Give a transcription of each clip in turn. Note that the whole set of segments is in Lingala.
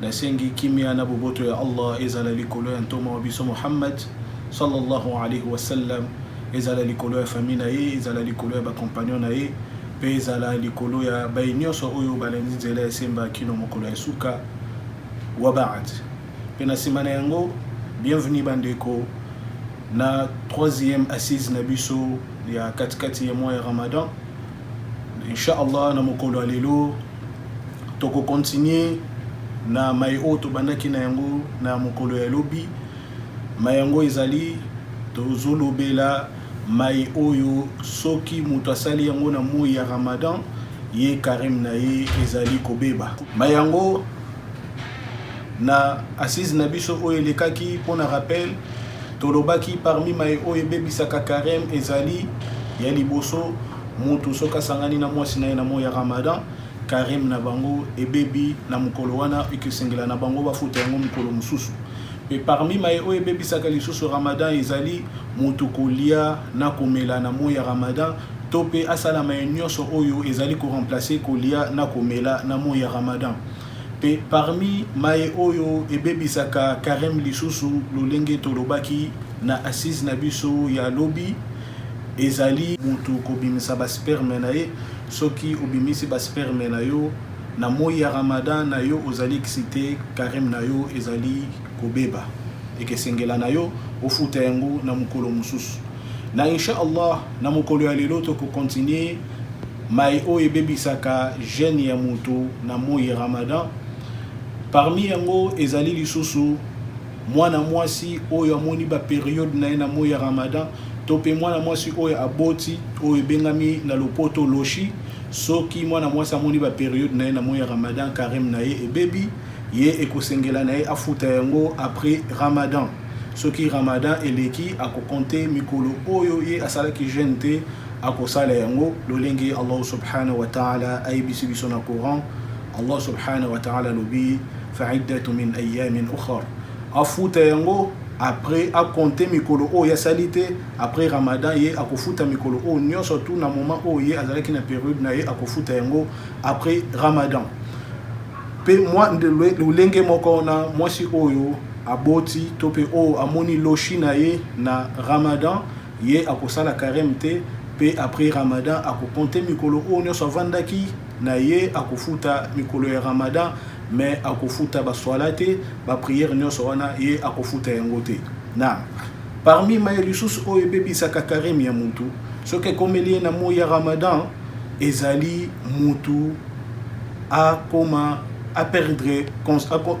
Nasengi kimia na boboto ya Allah ezala likolo ya Ntoma wa biso Muhammad, sallallahu alayhi wa sallam, ezala likolo ya famille na ye, ezala likolo ya ba compagnons na ye, mpe ezala likolo ya baye nyonso oyo balandi nzela ya semba kino mokolo ya suka. Wa ba'd. Mpe na sima na yango, bienvenue bandeko na troisième assise na biso ya katikati ya mois ya Ramadan. Inch'Allah na mokolo ya lelo Toko continuer na maye oyo tobandaki na yango na mokolo ya lobi. Maye yango ezali tozolobela maye oyo soki moto asali yango na moyi ya Ramadan, ye careme na ye ezali kobeba. Maye yango na assise na biso oyo elekaki mpo na rappel tolobaki parmi maye oyo ebebisaka careme ezali ya liboso, Mutu soki asangani na muasi naye na moyi ya Ramadan, careme na bango ebebi na mukolo wana, ekesengela na bango bafuta yango mukolo mususu. Pe parmi maye oyo ebebisaka lisusu Ramadan ezali, mutu kolia na komela na moyi ya Ramadan, to pe asala maye nionso oyo ezali ko remplacer kolia na komela na moyi ya Ramadan. Pe parmi maye oyo ebebisaka careme lisusu, lolenge tolobaki na assise na biso ya lobi, Ezali mutu kobimisa ba sperme na ye soki obimisi ba sperme na yo na moyi ya Ramadan na yo ozali excite careme na yo ezali kobeba ekesengela na yo ofuta yango na mukolo mususu na insha Allah na mukolo ya lelo toko continuer mai oyo ebebisaka jeune ya mutu na moyi Ramadan parmi yango ezali lisusu Mwana mwasi oyo amoni ba periodes na ye na moyi ya Ramadan to pe mwana mwasi oyo aboti, oyo ebengami na lopoto loshi, soki mwana mwasi amoni ba periodes na ye na moyi ya Ramadan, careme na ye ebebi, ye ekosengela na ye afuta yango après Ramadan. Soki Ramadan eleki, ako compter mikolo oyo ye asalaki jeune te, akosala yango lolenge Allahu subhanahu wa ta'ala ayebisi biso na Coran, Allah subhanahu wa ta'ala alobi fa'iddatu min ayamin ukhar afuta yango après akonte mikolo oyo asali te après ramadan ye akofuta mikolo oyo nyonso tu na moment oyo ye azalaki na periode na ye akofuta yango après ramadan mpe mwa lolenge moko na mwasi oyo aboti to mpe oyo amoni loshi na ye na ramadan ye akosala careme te mpe après ramadan akokonte mikolo oyo nyonso avandaki na ye akofuta mikolo ya ramadan mais akofuta ba swala te ba prière nionso wana ye akofuta yango te na parmi maye lisusu oyo ebebisaka carime ya mutu soki ekomeli ye na moyi ya ramadan ezali mutu akoma a perdre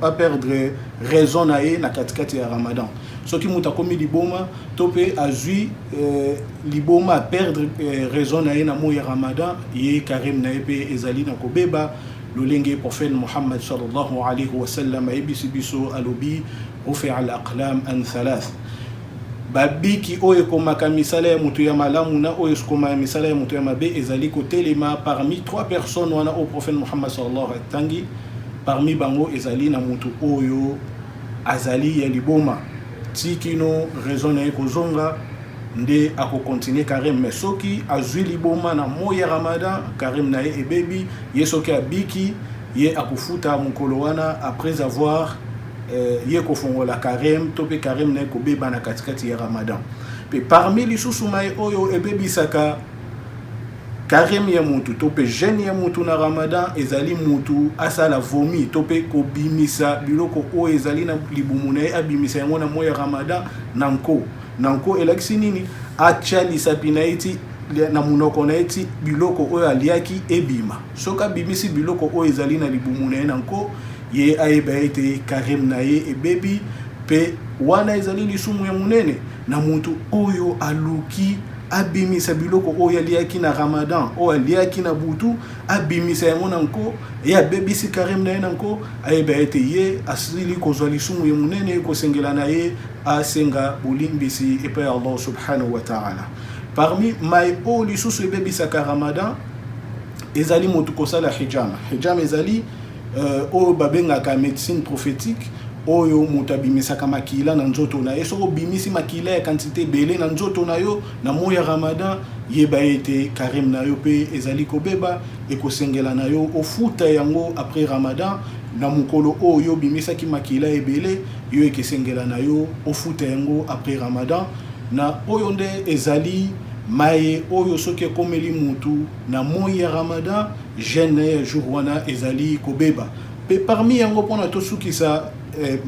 a perdre raison na ye na katikati ya ramadan soki mutu akomi liboma to pe azui euh, liboma perdre eh, raison na ye na moyi ya ramadan ye carême na ye mpe ezali na kobeba lolenge prophète muhammad sallallahu alayhi wa sallam ayebisi biso alobi rufi al aqlam an thalath babiki oyo ekomaka misala ya moto ya malamu na oyo ekomaka misala ya moto ya mabe ezali kotelema parmi trois personnes wana oyo prophète muhammad sallallahu alayhi wa sallam atangi parmi bango ezali na moto oyo Azali ya liboma ti kino raison naye ekozonga nde ako continuer Karim mais soki azui liboma na moyi ya Ramadan Karim naye ebebi ye soki abiki ye akofuta mukolo wana après avoir euh, ye kofongola Karim to pe Karim naye kobeba na katikati ya Ramadan pe parmi lisusu maye oyo ebebisaka Karim ye mutu to pe jeune ye mutu na Ramadan ezali mutu asala vomi to pe kobimisa biloko oyo ezali na libumu na ye abimisa yango na moyi ya Ramadan na nko na nko elakisi nini atya lisapi na ye ti na munoko na ye ti biloko oyo aliaki ebima soki abimisi biloko oyo ezali na libumu na ye na nko ye ayeba ete Karim na ye ebebi pe wana ezali lisumu ya munene na mutu oyo aluki abimisa biloko oyo aliaki na ramadan oyo aliaki na butu abimisa yango na nko ye abebisi karime na ye na nko ayeba ete ye asili kozwa lisumu ye monene ekosengela na ye asenga bolimbisi epai ya allah subhanahu wa taala parmi mai oyo lisusu ebebisaka ramadan ezali moto kosala hijama hijama ezali Euh, oyo babengaka medecine prophétique oyo moto abimisaka makila na nzoto na ye soki obimisi makila ya kantite ebele na nzoto na yo na moi ya ramadan yeba ete karime na yo mpe ezali kobeba ekosengela na yo ofuta yango après ramadan na mokolo oyo yo obimisaki makila ebele yo ekesengela na yo ofuta yango après ramadan na oyo nde ezali maye oyo soki ekomeli motu Na moyi ya Ramadan, jeune naye ya jour wana ezali kobeba. Mpe parmi yango, mpo na tosukisa eh,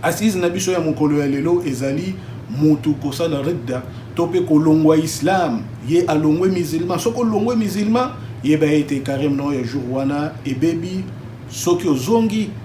assise na biso ya mokolo ya lelo ezali mutu kosala ridda to mpe kolongwa islam, ye alongwe musulman. Soki olongwe musulman, yeba ete carême na yo ya jour wana ebebi. Soki ozongi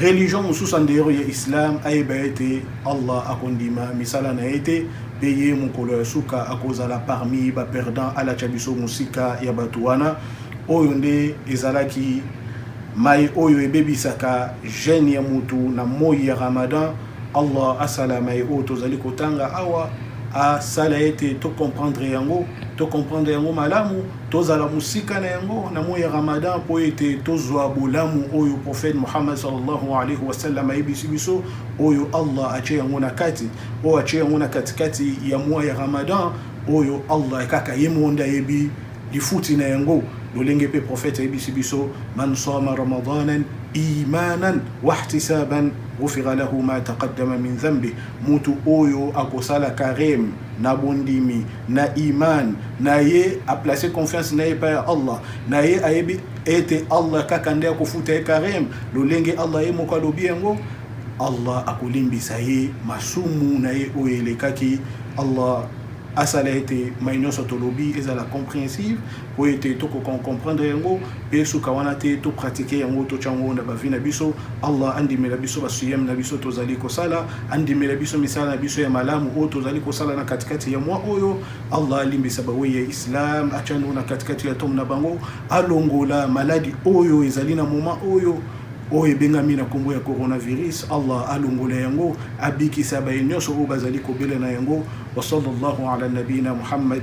religion mosusu en dehors ya islam ayeba ete allah akondima misala na ye te mpe ye mokolo ya suka akozala parmi baperdant alatya biso mosika ya bato wana oyo nde ezalaki mai oyo ebebisaka gene ya motu na moi ya ramadan allah asala mai oyo tozali kotanga awa asala ete tocomprendre yango tocomprendre yango malamu Tozala mosika na yango na moyi ya Ramadan mpo ete tozwa bolamu oyo prophète Muhammad sallallahu alayhi wa sallam ayebisi biso, oyo Allah atye yango na kati, oyo atye yango na katikati ya mois ya Ramadan, oyo Allah kaka ye moko nde ayebi lifuti na yango. Lolenge mpe prophète ayebisi biso, man sama ramadanan imanan wahtisaban ghufira lahu ma taqaddama min dhanbi, mutu oyo akosala careme na bondimi na iman na ye aplace confiance na ye epai ya allah na ye ayebi ete allah kaka nde akofuta ye karim lolenge allah ye moko alobi yango allah akolimbisa ye masumu na ye oyo elekaki allah asala ete mai nyonso tolobi ezala comprehensive Oyo ete to ko comprendre yango pe suka wana te to pratiquer yango to tiango na ba vie na biso Allah andimela biso ba suyem na biso tozali kosala andimela biso misala na biso ya malamu oyo tozali kosala na katikati ya mwa oyo Allah alimbisa ba wei ya Islam atiano na katikati ya tom na bango alongola maladi oyo ezali na moma oyo oyo ebengami na nkombo ya coronavirus allah alongola yango abikisa baye nyonso oyo bazali kobela na yango wa sallallahu ala nabiyina muhammad